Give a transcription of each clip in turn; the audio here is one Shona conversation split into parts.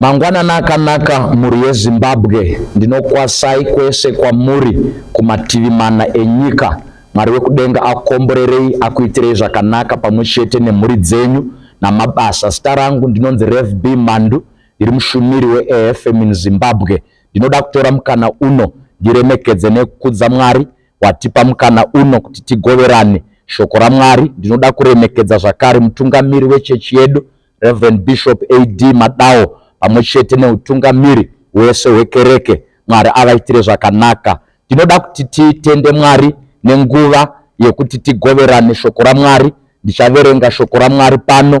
Mangwanana akanaka mhuri yeZimbabwe, ndinokwasai kwese kwamuri kumativi mana enyika. Mwari wekudenga akomborerei, akuitirei zvakanaka pamwe chete nemhuri dzenyu namabasa. Zita rangu ndinonzi Rev B Mandu, Ndiri mushumiri weAFM in Zimbabwe. Ndinoda kutora mukana uno ndiremekedze nekukudza Mwari watipa mukana uno kuti tigoverane shoko raMwari. Ndinoda kuremekedza zvakare mutungamiri wechechi yedu Reverend Bishop AD Madawo pamwe chete neutungamiri hwese hwekereke. Mwari avaitire zvakanaka. Ndinoda kuti titende Mwari nenguva yekuti tigoverane shoko raMwari. Ndichaverenga shoko raMwari pano.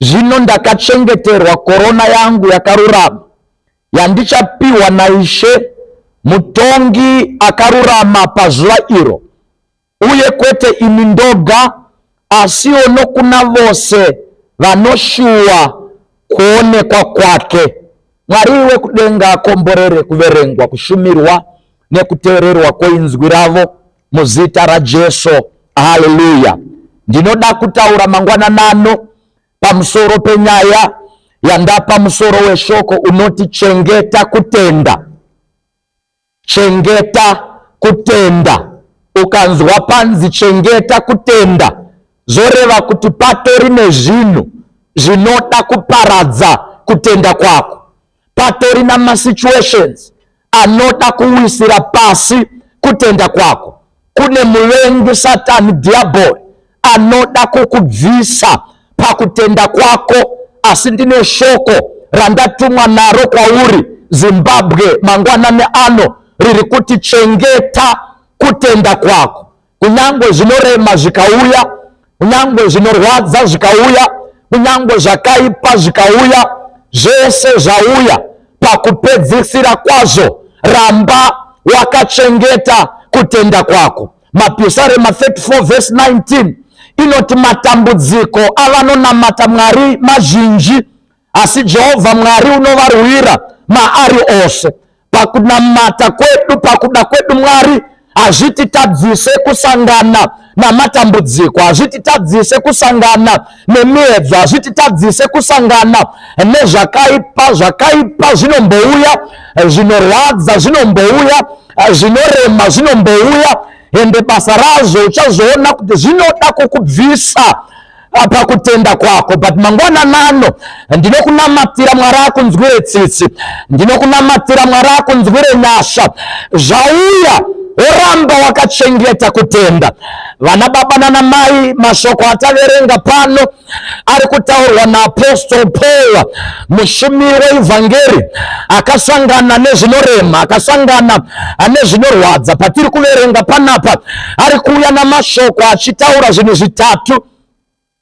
Zvino ndakachengeterwa korona yangu yakarurama, yandichapiwa naIshe mutongi akarurama pazuva iro, uye kwete ini ndoga, asiwo nokuna vose vanoshuwa kuonekwa kwake. Mwari wekudenga akomborere kuverengwa, kushumirwa, nekuteererwa kweinzwi ravo. muzita rajesu haleluya ndinoda kutaura mangwananano pamusoro penyaya yandapa musoro weshoko unoti chengeta kutenda chengeta kutenda ukanzwa panzi chengeta kutenda zvoreva kuti patori nezvinhu zvinoda kuparadza kutenda kwako patori namasituations anoda kuwisira pasi kutenda kwako kune muvengi satani dhiabhori anoda kukubvisa pakutenda kwako asi ndine shoko randatumwa naro kwauri zimbabwe mangwanani ano riri kuti chengeta kutenda kwako kunyangwe zvinorema zvikauya kunyangwe zvinorwadza zvikauya kunyangwe zvakaipa zvikauya zvese zvauya pakupedzisira kwazvo ramba wakachengeta kutenda kwako mapisarema 34 vhesi 19 inoti matambudziko avanonamata mwari mazhinji asi jehovha mwari unovarwira maari ose pakunamata kwedu pakuda kwedu mwari hazvititadzise kusangana namatambudziko hazvititadzise kusangana nemiedzo hazvititadzise kusangana nezvakaipa zvakaipa zvinombouya zvinorwadza zvinombouya zvinorema zvinombouya ende basa razvo uchazoona kuti zvinoda kukubvisa apa kutenda kwako but mangwana nano ndinokunamatira mwari akunzwire tsitsi ndinokunamatira mwari akunzwire nyasha zvauya woramba wakachengeta kutenda vana baba nana mai mashoko ataverenga pano ari kutaurwa naapostol paul mushumiri weivhangeri akasangana nezvinorema akasangana nezvinorwadza patiri kuverenga panapa ari kuuya namashoko achitaura zvinhu zvitatu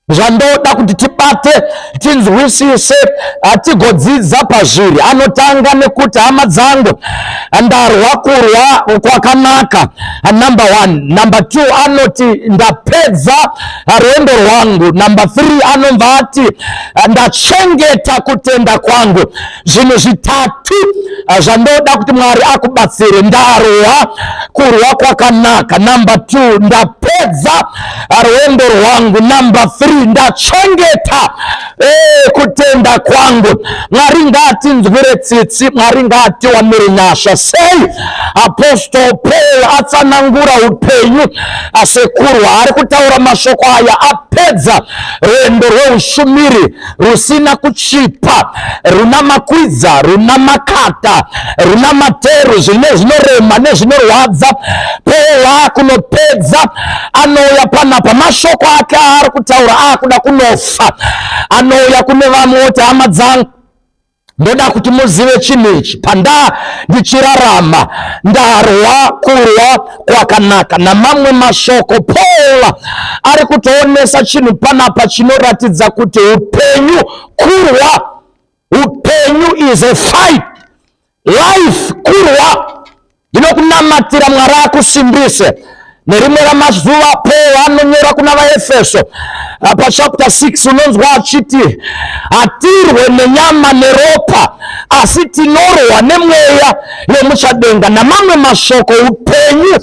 zvandoda kuti tibate tinzwisise hatigodzidza pazviri anotanga nekuti hama dzangu ndarwa kurwa kwakanaka number one number two anoti ndapedza rwendo rwangu number three anobva ati ndachengeta kutenda kwangu zvinhu zvitatu ah, zvandoda kuti mwari akubatsire ndarohwa kurwa kwakanaka number two ndapedza ah, rwendo rwangu number three ndachengeta eh, kutenda kwangu mwari ngatinzwire tsitsi mwari ngatiwanire nyasha sei apostol paul atsanangura upenyu ah, sekurwa ari kutaura mashoko aya apedza rwendo rweushumiri rusina kuchipa runa makwidza runa makata runa materu zvine zvinorema nezvinorwadza pewa kunopedza anouya panapa mashoko ake aari kutaura aakuda kunofa anouya kune vamwe oti hama dzangu ndoda kuti muzive chinhu ichi pandaa ndichirarama ndarwa kurwa kwakanaka namamwe mashoko paul ari kutoonesa chinhu panapa chinoratidza kuti upenyu kurwa upenyu is a fight life kurwa ndinokunamatira mwari akusimbise nerimwe ramazuva paul anonyora kuna vaefeso ah, pachapta 6 unonzwa achiti hatirwe nenyama neropa asi tinorohwa nemweya yemuchadenga namamwe mashoko upenyu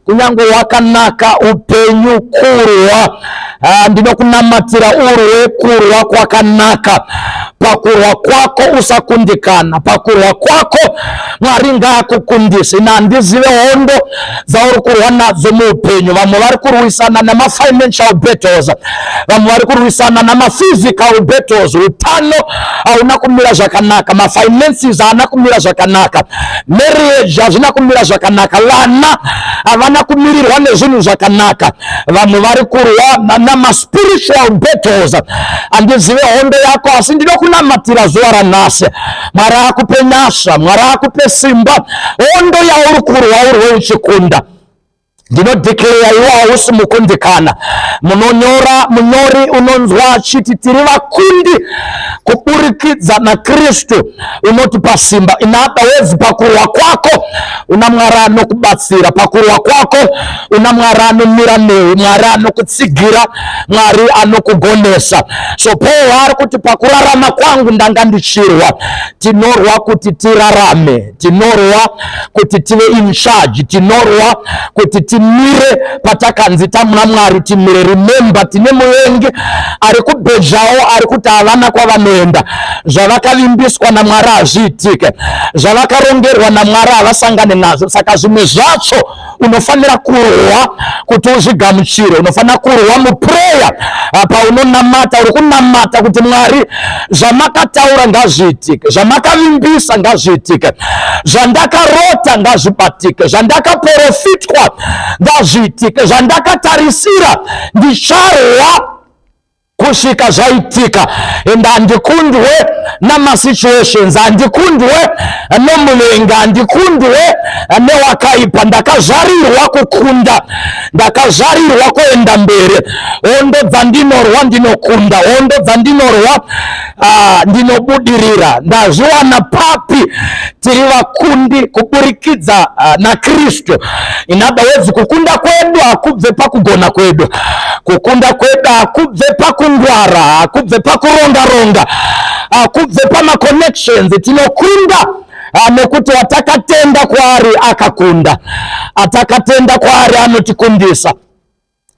kunyange wakanaka upenyu kurwa Ah, ndinokunamatira urwe kurwa kwakanaka pakurwa kwako usakundikana pakurwa kwako mwari ngaakukundise ina handizive hondo dzauri kurwa nadzo muupenyu vamwe vari kurwisana nemafinancial battles vamwe vari kurwisana nemaphysical battles utano hauna kumira zvakanaka mafinances haana kumira zvakanaka marriage hazvina kumira zvakanaka vana havana kumirirwa nezvinhu zvakanaka vanhu vari kurwa namaspiritual battles handizive hondo yako asi ndinokunamatira zuva ranhasi mwari akupe nyasha mwari akupe simba hondo yauri kurwa urwe uchikunda ndinodhikleya iwo hausi mukundikana munonyora munyori unonzwa achiti tiri vakundi kuburikidza nakristu unotipa simba inada wezi pakurwa kwako una mwari anokubatsira pakurwa kwako una mwari anomira newe mwari anokutsigira mwari anokugonesa so paul ari kuti pakurarama kwangu ndanga ndichirwa tinorwa kuti tirarame tinorwa kuti tive in charge tinorwa kuti timire patakanzi tamuna mwari timire remember tine muvengi ari kubhezhawo ari kuti havana kwavanoenda zvavakavimbiswa namwari hazviitike zvavakarongerwa namwari havasangane nazvo saka zvimwe zvacho unofanira kurwa kuti uzvigamuchire unofanira kurwa mupureya apa ah, unonamata uri kunamata kuti mwari zvamakataura ngazviitike zvamakavimbisa ngazviitike zvandakarota ngazvibatike zvandakaporofitwa ngazviitike zvandakatarisira ndicharwa kusvika zvaitika and handikundwe namasituations handikundwe nomuvenga handikundwe newakaipa ndakazvarirwa kukunda ndakazvarirwa kuenda mberi hondo dzandinorwa ndinokunda hondo dzandinorwa Ah, ndinobudirira ndazviwana papi tiri vakundi kuburikidza ah, nakristu in other words kukunda kwedu hakubve pakugona kwedu kukunda kwedu hakubve pakungwara hakubve pakuronga ronga hakubve pamaconnections tinokunda Ah, nekuti watakatenda kwaari akakunda atakatenda kwaari anotikundisa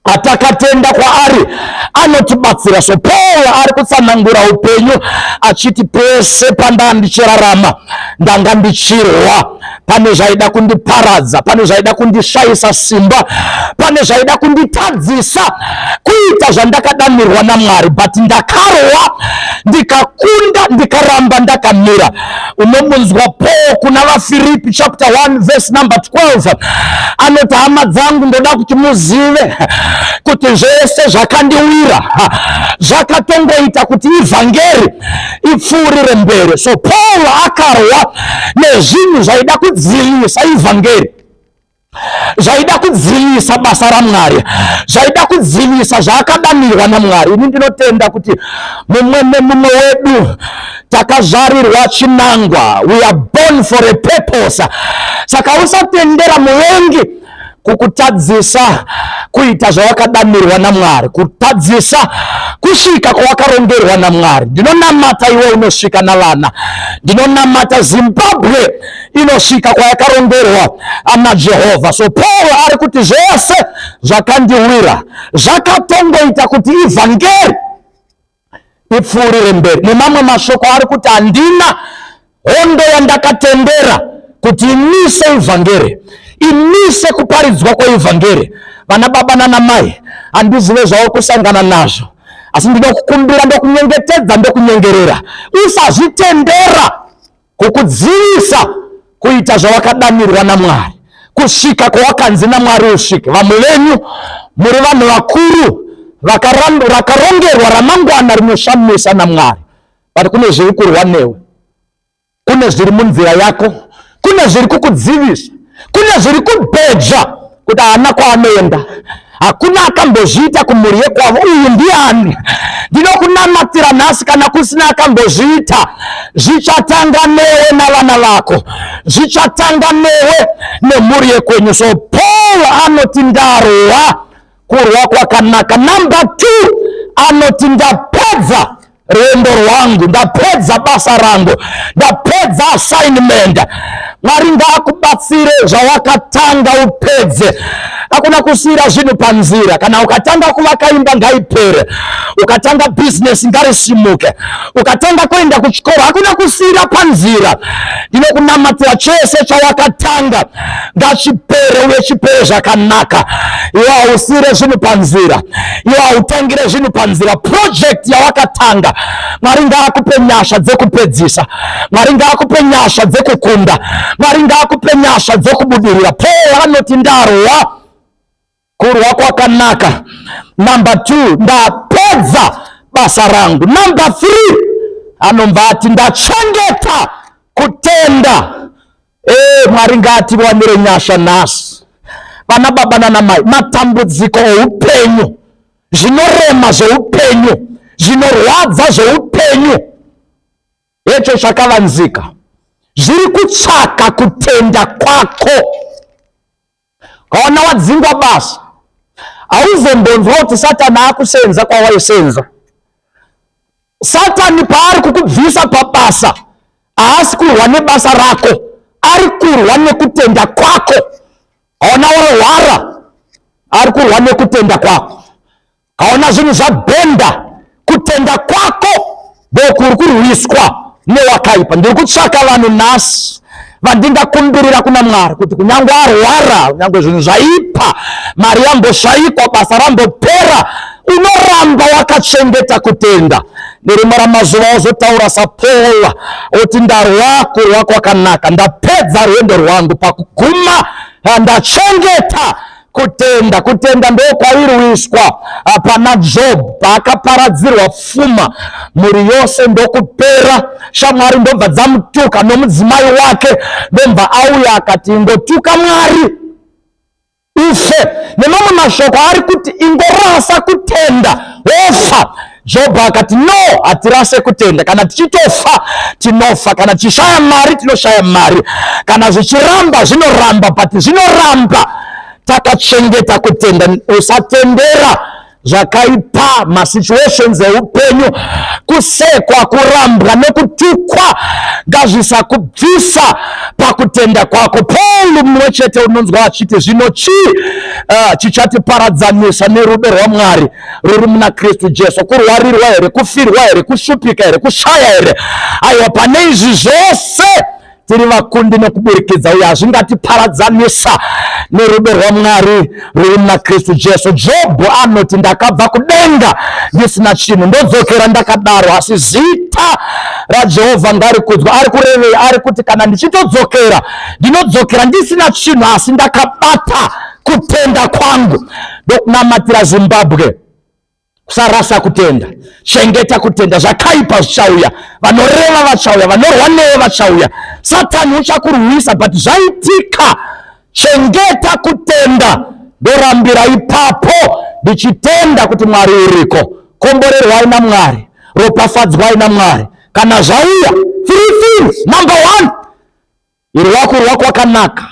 atakatenda kwaari anotibatsira so paul ari kutsanangura upenyu achiti pese pandanga ndichirarama ndanga ndichirwa pane zvaida kundiparadza pane zvaida kundishayisa simba pane zvaida kunditadzisa kuita zvandakadanirwa namwari but ndakarwa ndikakunda ndikaramba ndakamira unomunzwa paul kuna vafiripi chapter 1 verse number 12 anoti hama dzangu ndoda kuti muzive kuti zvese zvakandiwira zvakatongoita kuti ivhangeri ipfuurire mberi so paul akarwa nezvinhu zvaida kudzivirisa ivhangeri zvaida kudzivisa basa ramwari zvaida kudzivisa zvaakadanirwa namwari ini ndinotenda kuti mumwe nemumwe wedu takazvarirwa chinangwa we are born for a purpose saka usatendera muvengi kukutadzisa kuita zvawakadanirwa namwari kutadzisa kusvika kwawakarongerwa namwari ndinonamata iwe unosvika navana ndinonamata zimbabwe inosvika kwayakarongerwa ana jehovha so pauro ari kuti zvese zvakandiwira zvakatongoita kuti ivhangeri ipfuurire mberi nemamwe mashoko ari kuti handina hondo yandakatendera kuti imise ivhangeri imise kuparidzwa kweivhangeri vana baba nana mai handizive zvauri kusangana nazvo asi ndinokukumbira ndokunyengetedza ndokunyengerera usazvitendera kukudzivisa kuita zvawakadanirwa namwari kusvika kwawakanzi namwari usvike vamwe venyu muri vanhu vakuru rakarongerwa ramangwana rinoshamisa namwari but kune zviri kurwa newe kune zviri munzira yako kune zviri kukudzivisa kune zviri kubhejwa kuti haana kwaanoenda hakuna akambozviita kumhuri yekwavo uyu ndiani ndinokunamatira nhasi kana kusina akambozviita zvichatanga newe navana vako zvichatanga newe nemhuri yekwenyu so paul anoti ndarohwa kurwa kwakanaka number two anoti ndapedza rwendo rwangu ndapedza basa rangu ndapedza assignment mwari ngaakubatsire zvawakatanga upedze hakuna kusiyira zvinhu panzira kana ukatanga kuvaka imba ngaipere ukatanga bhizinesi ngarisimuke ukatanga kuenda kuchikoro hakuna kusiyira panzira ndinokunamatira chese chawakatanga ngachipere uye chipere zvakanaka iwe hausire zvinhu panzira iwe hautangire zvinhu panzira purojekti yawakatanga mwari ngaakupe nyasha dzekupedzisa mwari ngaakupe nyasha dzekukunda mwari ngaakupe nyasha dzekubudirira paul anoti ndarowa kurwa kwakanaka number two ndapedza basa rangu number three anobva ati ndachengeta kutenda ee mwari ngaatiwanire nyasha nhasi vana baba nana mai matambudziko oupenyu zvinorema zveupenyu zvinorwadza zveupenyu hecho chakavanzika zviri kutsvaka kutenda kwako ukaona wadzingwa basa hauzombonzwa kuti satani akusenza kwawaisenza satani paari kukubvisa pabasa haasi kurwa nebasa rako ari kurwa nekutenda kwako haona warwara ari kurwa nekutenda kwako kaona zvinhu zvabhenda kutenda kwako boku uri kurwiswa newakaipa ndiri kutsvaka vanhu nhasi vandingakumbirira kuna mwari kuti kunyange arwara kunyange zvinhu zvaipa mari yamboshaikwa basa rambopera unoramba wakachengeta kutenda nerimwe ramazuva ozotaura sapola oti ndarwa kurwa kwakanaka ndapedza rwendo rwangu pakuguma ndachengeta kutenda kutenda ndokwairuiswa ah, pana job paakaparadzirwa fuma mhuri yose ndokupera shamwari ndobva dzamutuka nomudzimai wake ndobva auya akati ingotuka mwari ufe nemamwe mashoko ari kuti ingorasa kutenda wofa jobho akati no hatirase kutenda kana tichitofa tinofa kana tichishaya mari tinoshaya mari kana zvichiramba zvinoramba but zvinoramba takachengeta kutenda usatendera zvakaipa masituations eupenyu kusekwa kurambwa nekutukwa ngazvisakubvisa pakutenda kwako paul mumwe chete unonzwa achiti zvino chii uh, chichatiparadzanisa nerudo rwamwari ruri muna kristu jesu kurwarirwa here kufirwa here kushupika here kushaya here aiwa pane izvi zvose tiri vakundi nekuburikidza uye hazvingatiparadzanisa nerudo rwamwari ruri muna kristu jesu jobho anoti ndakabva kudenga ndisina chinhu ndodzokera ndakadaro asi zita rajehovha ngarikudzwa ari kurevei ari kuti kana ndichitodzokera ndinodzokera ndisina chinhu asi ndakabata kutenda kwangu ndokunamatira zimbabwe kusarasa kutenda chengeta kutenda zvakaipa zvichauya vanoreva vachauya vanorwa newe vachauya satani uchakurwisa but zvaitika chengeta kutenda ndorambira ipapo ndichitenda kuti mwari uriko komborerwai namwari ropafadzwai namwari kana zvauya three things number one Irwako rwako wakanaka.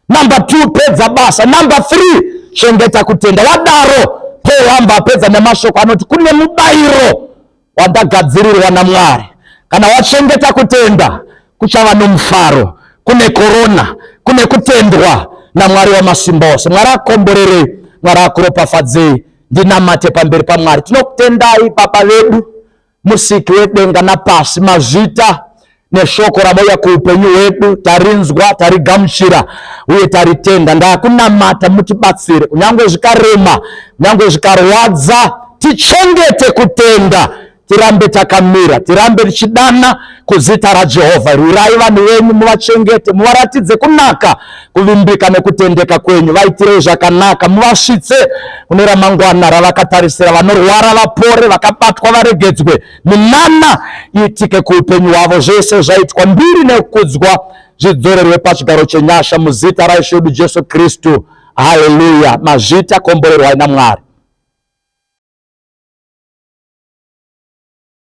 Number 2 pedza basa. Number 3 chengeta kutenda. Wadaro Paul amba apedza nemashoko anoti kune mubayiro wandagadzirirwa naMwari. Kana wachengeta kutenda kuchava nomufaro. Kune korona, kune kutendwa naMwari wamasimba ose. Mwari akomborerei, Mwari akuropafadzei. Ndinamate pamberi paMwari. Tinokutendai Baba vedu. musiki wedenga napasi mazvita neshoko ramauya kuupenyu hwedu tarinzwa tarigamuchira uye taritenda ndakunamata mutibatsire kunyange zvikarema kunyange zvikarwadza tichengete kutenda tirambe takamira tirambe tichidana kuzita rajehovha rwirai vanhu venyu muvachengete muvaratidze kunaka kuvimbika nekutendeka kwenyu vaitirei zvakanaka muvasvitse kune ramangwana ravakatarisira vanorwara vapore vakabatwa varegedzwe minana iitike kuupenyu hwavo zvese zvaitwa mbiri nekukudzwa zvidzorerwe pachigaro chenyasha muzita raishe wedu jesu kristu haleluya mazvita komborerwai namwari